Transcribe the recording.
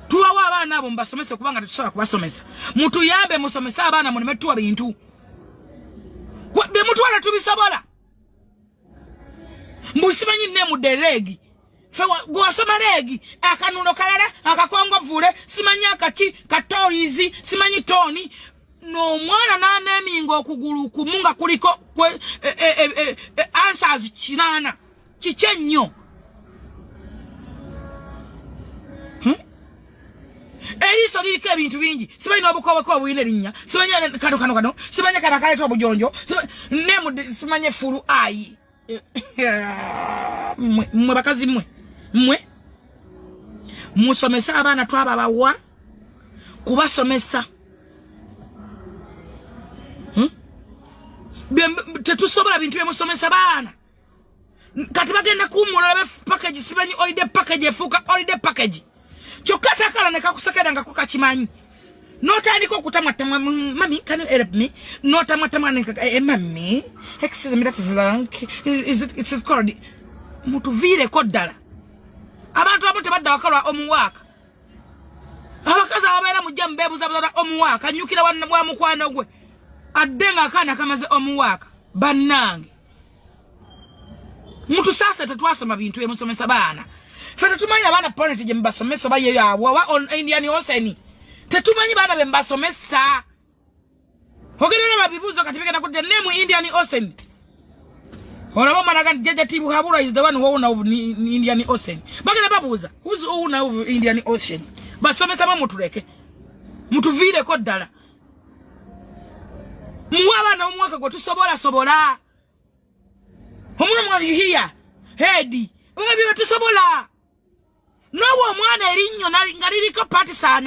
tubawa abaana abo mubasomese kubanga tetusobola kubasomesa mutuyambe musomese abaana muleme tuwa bintu bemutwala tubisobola mbusimanyi nemude leegi fe gwasoma leegi akanuno kalala akakongovuule simanyi akaki katoyizi simanyi toni nomwana naneminga okugulu kumu nga kuliko e, e, e, answers kinana kiki ennyo hmm? eriiso liriko ebintu bingi simanyi n'obukoboka obulina erinnya simanyi kano kano kano simanyi kano akaleeta obujonjo nemudi simanyi efulu ayi mwe bakazi mwe mwe musomese abaana twababawa kubasomesa hmm? tetusobola bintu byemusomesa baana kati bagenda kuwumula olabe package simanyi olide package efuuka olide package kyokka takala nekakusekera nga kukakimanyi notandika okutamattama mami can you help me notamattama eh, eh, mami excuse me that is long is it, it is called mutuviireko ddala abantu abamu tebadda wakalwa omuwaaka abakazi ababeera mujja mubeebuza buzala omuwaaka nyukira wa mukwano gwe adde nga akaana kamaze omuwaaka bannange Mtu sasa tatwasoma bintu ya musomesa bana. Fata tumanyi abana parent je mbasomesa ba yeyo awo wa on yani oseni. Tetumanyi bana be mbasomesa. Hogere na mabibuzo katifika na kudde nemu Indian Ocean. Ona mama nagan jaja tibu habura is the one who owner of Indian Ocean. Bagala babuza who's owner of Indian Ocean. Basomesa ba mutuleke. Mutuvire ko dala. muwe abaana omwaka gwe tusobola sobola omwana omwana yuhiya hedi nga bye tusobola n'owo omwana erinnyo nga liriko patisaana